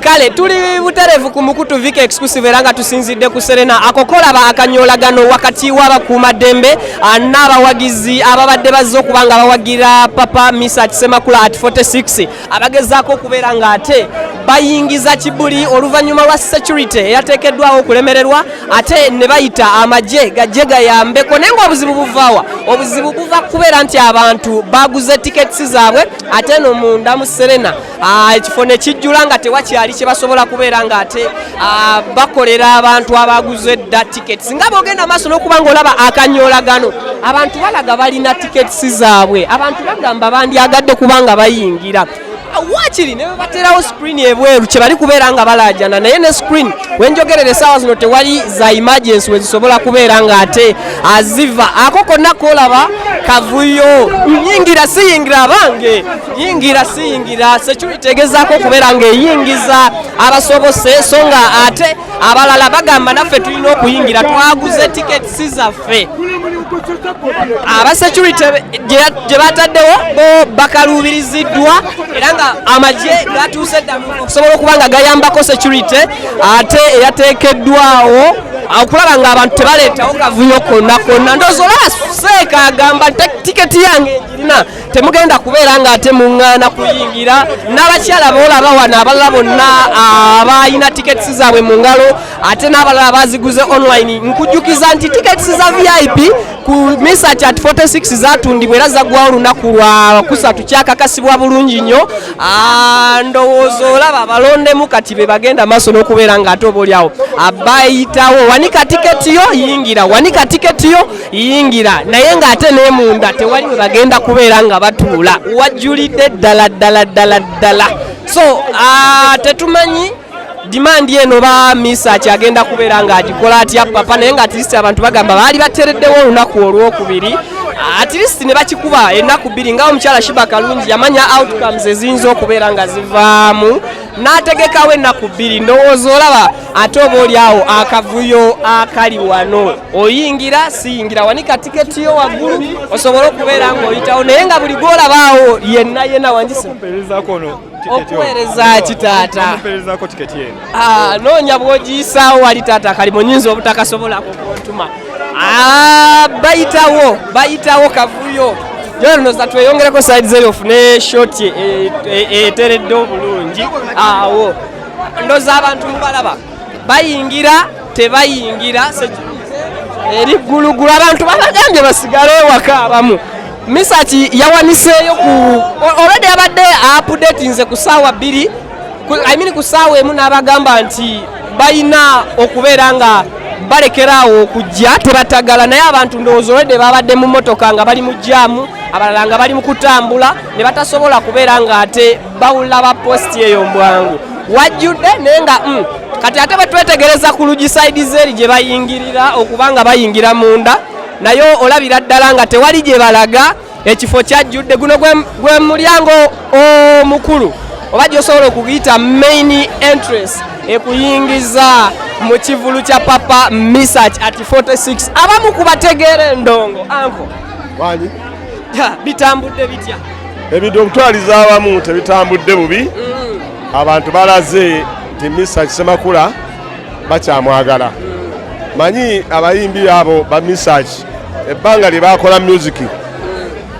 kale tuli buterevu ku mukutu vika exclusive era nga tusinzidde ku serena akokolaba akanyolagano wakati w'abakuumaddembe ah, n'abawagizi ababadde bazze okuba nga bawagira papa misa kisemakula at 46 abagezaako okubeera ng'ate bayingiza kibuli oluvannyuma lwa security eyateekeddwawo okulemererwa ate ne bayita amagye gajje gayambeko naye ngaobuzibu buvaawa obuzibu buva kubeera nti abantu baguze tiketisi zaabwe ate no munda mu serena ah, ekifo ne kijjula nga tewakyali kye basobola kubeera ng'ate Ah, bakolera abantu abaguze dda tickets nga bogenda maaso n'okuba ngaolaba akanyoolagano abantu balaga balina tickets zaabwe abantu bagamba bandyagadde kubanga bayingira wakiri ne baterawo screen ebweru kyebali kubeera nga balajana naye ne screen wenjogerera esaawa zino tewali za emergency wezisobola kubeera nga ate aziva ako konna kolaba kavuyo nyingira siyingira abange yingira siyingira security egezaako okubeera ng'eyingiza abasobose so nga ate abalala bagamba naffe tulina okuyingira twaguze tikets zaffe aba security gye bataddewo bo bakaluubiriziddwa era nga amagye gatuuse dda okusobola okuba nga gayambako security ate eyateekeddwawo okulaba nga abantu tebaleetawo kavuyo konna konna ndoozi olaba seeka agamba tiketi yange egirina temugenda kubeera nga ate muŋŋaana kuyingira n'abakyala boolaba wano abalala bonna abalina tickets zaabwe mu ngalo ate n'abalala baziguze online nkujjukiza nti tickets za vip ku misa chat 46 zatundibwa era zaggwawo olunaku lwa kusatu kyakakasibwa bulungi nnyo ndowooza olaba balondemu kati be bagenda maaso n'okubeera nga ate obaolyawo abayitawo wanika tiketi yo yingira wanika tiketi yo yingira naye ng'ate n'emunda tewali we bagenda kubeera nga batuula wajjulidde ddala ddala ddala ddala so ah, tetumanyi dimandi eno ba misa kyagenda kubeera ng'agikola atya papa naye nga atirisi abantu bagamba baali batereddewo olunaku olwokubiri atirist ne bakikuba ennaku bbiri nga omukyala shiba kalungi yamanya outcomes eziyinza okubeera nga zivaamu n'ategekawo ennaku bbiri ndowooza olaba ate oba oli awo akavuyo akali wano oyingira siyingira wanika tiketi yo waggulu osobole okubeera ng'oyitawo naye nga buli gwolabaawo yenna yenna wangisa okuweereza ki taata ah, noonya bwogiyisaawo wali taata akalimu nyinza obutakasobola kukuntuma Ah, bayitawo bayitawo kavuyo jonoza tweyongereko side zeri ofune shot e, e, eteredde obulungi awo ndoza abantu mubalaba bayingira tebayingira eri ggulugulu abantu babagambye basigale ewaka abamu misaki yawaniseeyo ku olwedde yabadde apudetinze ku saawa bbiri I mean ku saawa emu n'abagamba nti balina okubeera nga balekeraawo okujja tebatagala naye abantu ndowooza olwedde babadde mu motoka nga bali mu jaamu abalala nga bali mu kutambula ne batasobola kubeera ng'ate bawulira ba positi eyo mbwangu wajjudde naye nga mm, kati ate batwetegereza ku lugi saidi zeeri gye bayingirira okuba nga bayingira munda naye olabira ddala nga tewali gye balaga ekifo kyajjudde guno gwe mulyango omukulu oba gyosobola okugiyita main entrance ekuyingiza mu kivulu kya papa misach at 46 abamu kubategeera endongo anko wani bitambudde bitya ebintu okutwaliza abamu tebitambudde bubi mm. abantu balaze nti misach semakula bakyamwagala mm. manyi abayimbi abo ba misach ebbanga lye baakola myuziki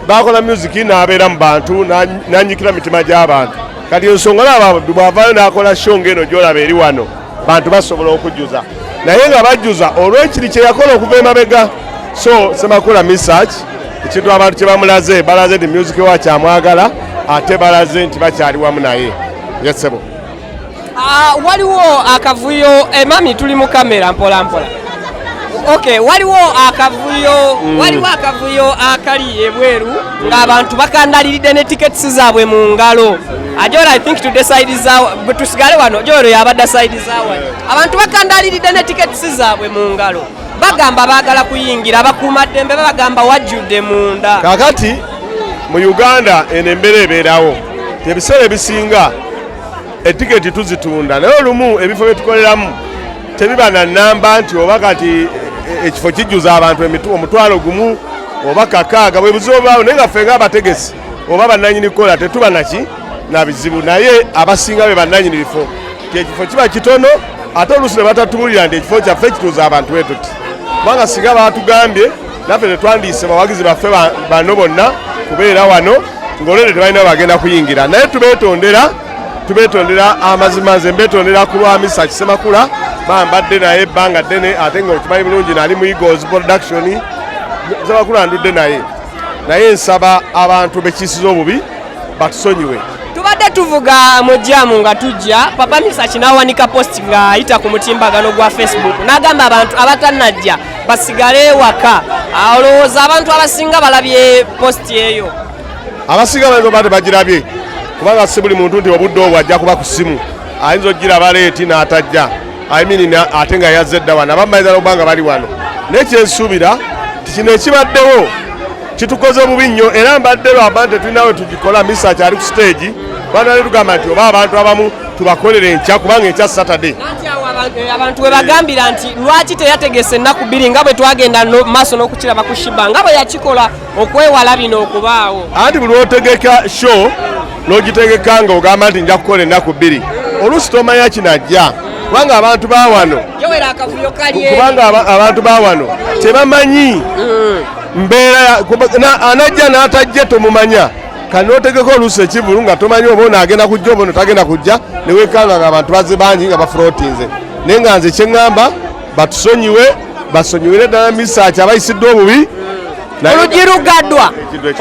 baakola myuziki n'abeera mu bantu n'anyikira mitima gy'abantu kati ensonga laba bwavaayo n'akola sho ng'eno gy'olaba eri wano bantu basobola okujjuza naye nga bajjuza olw'ekiri kye yakola okuva emabega so semakula misach ekintu abantu kye bamulaze balaze nti myuziki wa kyamwagala ate balaze nti bakyali wamu naye yesebo Ah, waliwo akavuyo emami eh, tuli mu kamera mpola mpola ok waliwo akavuyo mm. waliwo akavuyo akali ebweru ng'abantu bakandaliridde ne tickets zaabwe mu ngalo ajora i think tude side zawa tusigale wano joro yabadda side zawa abantu bakandaliridde ne tickets zaabwe mu ngalo bagamba baagala kuyingira abakuuma ddembe babagamba wajjudde munda kakati mu uganda eno embeera ebeerawo ebiseera ebisinga etiketi tuzitunda naye olumu ebifo byetukoleramu tebiba na namba nti oba kati e, e, ekifo kijjuza abantu omutwalo gumu oba kakaaga bwebuzibu obaawo naye nga ffe nga abategesi oba bananyini kukola tetuba naki nabizibu naye abasinga be bananyini bifo kyekifo kiba kitono ate oluusi ne batatubulira nti ekifo kyaffe kituuza abantu etuti kubanga singa batugambye naffe tetwandiise bawagizi baffe bano bonna kubeera wano ngolwere tebalina bagenda kuyingira naye tubetondera tubetondera amazima nze mbetondera ku lwa misa kisemakula bambadde naye ebbanga ddene ate nga okimanyi bulungi nali mu eagles production semakula ndudde naye naye nsaba abantu bekiisiza obubi batusonyiwe tubadde tuvuga mujjamu nga tujja papa misa kinawanika post ng'ayita ku mutimbagano gwa facebook n'agamba abantu abatanajja basigale ewaka olowooza abantu abasinga balabye positi eyo abasinga bainza oba tebagirabye kubanga si buli muntu nti obudde obwo ajja kuba ku simu ayinza okugiraba leeti n'atajja imini ate nga yazze edda wano abamu bayinza nokuba nga bali wano naye kyensuubira nti kino ekibaddewo kitukoze bubi nnyo era mbadde lwamba nti tulinawe tugikola misa kyali ku siteegi bana netugamba nti oba abantu abamu tubakolera enkya kubanga enkya saturday eh, abantu webagambira nti lwaki teyategese ennaku bbiri nga bwe twagenda maaso n'okukiraba ku shiba nga bwe yakikola okwewala bino okubaawo anti buli otegeka show n'ogitegeka nga ogamba nti nja kukola ennaku bbiri oluusi tomanya kinajja kubanga abantu bawano kubanga abantu bawano tebamanyi mm. mbeera anajja n'atajja tomumanya kati notegeka oluusi ekivulu nga tomanyi oba ono agenda kujja oba ono tagenda kujja newekanga nga abantu baze bangi nga bafulotinze naye nga nze kyeŋŋamba batusonyiwe basonyiwire ddala misaaki abayisiddwa obubi olugirugaddwa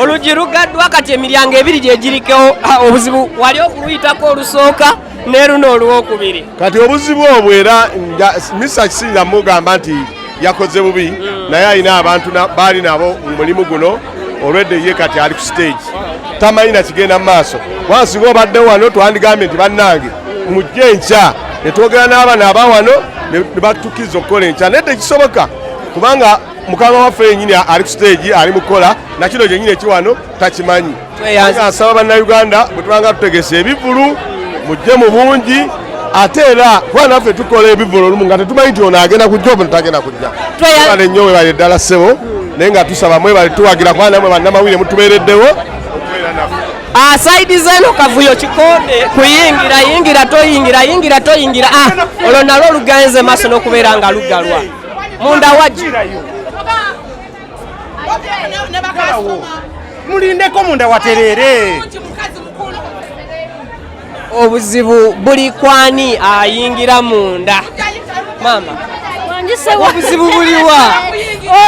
olugirugaddwa kati emiryango ebiri gyegirikewo ah, obuzibu wali okuluyitako olusooka ne luno olwokubiri kati obuzibu obwo era misa kisinza mugamba nti yakoze bubi mm. naye alina abantu baali nabo mu mulimu guno olwedde ye kati ali ku stage tamanyi nakigenda mu maaso wansinga obadde wano twandigambye nti bannange mujje enkya netwogera n'abaana aba wano nebatukiriza okukola enkya naye tekisoboka kubanga mukama waffe yenyini ali ku stage ali mukukola nakino kyenyini ekiwano takimanyi asaba bannayuganda bwetubanga tutegese ebivulu mujje mu bungi ate era kuba naffe tukola ebivulu olumu nga tetumanyi nti ono agenda kujja obu tagenda kujja ale nnyo webale ddala ssebo naye nga tusaba mwebale tuwagira kuba namwe bannamawulire mutubeereddewo asaidi ah, zeno kavuyo kikonde kuyingira yingira toyingira yingira toyingira ah, olwo nalwo lugenze maaso n'okubeera nga lugalwa munda wagi mulindeko munda waterere obuzibu buli kwani ayingira munda maama obuzibu buliwa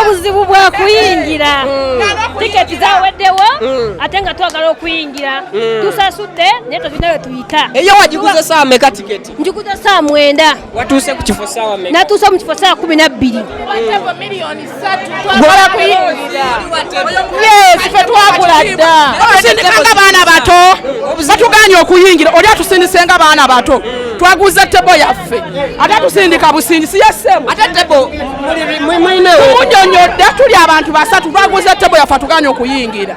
obuzibu bwakuyingira hmm. tiketi zaweddewo hmm. ate nga twagala okuyingira hmm. tusasudde naye tozinawe tuyita eyo wagiguze saa meka tiketi njuguza saa mwenda watuuse ku kifo saawa me natuuse mu kifo saawa kumi nabbiri fe twagula dda nga baana bato batuganye okuyingira oli atusindise nga baana bato twaguza tebo yaffe ate atusindika busindisi yessemunyonyodde tuli abantu basatu twaguza tebo yaffe atuganye okuyingira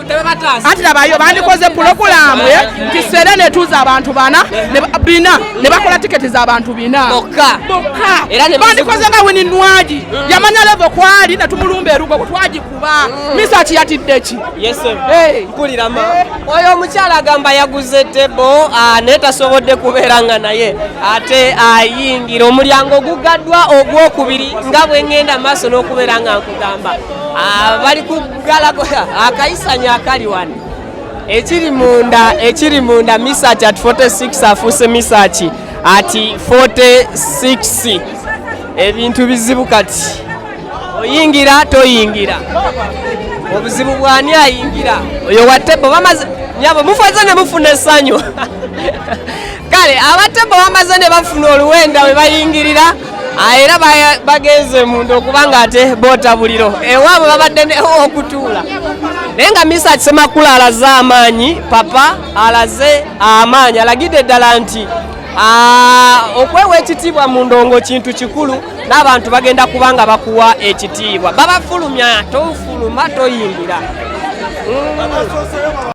anti nabayo bandikoze pulogulamu eh, nti sere netuuza abantu bana bina ne bakola tiketi zabantu bina bokka bandikoze nga wini nwagi mm. yamanya levo kwali netumulumba erugo bwetwagikuba mm. misa ki yatiddeki eh. oyo omukyala agamba yaguze tebo ah, naye tasobodde kubeera nga naye ate ayingira omulyango ogugaddwa ogwokubiri nga bwengenda maaso n'okubeera nga nkugamba ah, bali galagoya akayisanya akali wano ekiri munda ekiri munda misaki at 46 afuuse misaki ati 46 ebintu bizibu kati oyingira toyingira obuzibu bwani ayingira oyo watebo bamaze nyabo mufaze ne mufuna esanyu kale abatemu bamaze ne bafuna oluwenda we bayingirira ah, era bagenze munda okuba nga ate boota buliro ewaabwe babadde okutuula naye nga misa kisemakulu alaze amaanyi papa alaze amaanyi alagidde ddala nti ah, okwewa ekitiibwa mu ndongo kintu kikulu n'abantu bagenda kuba nga bakuwa ekitiibwa babafulumya tofuluma toyingira mm.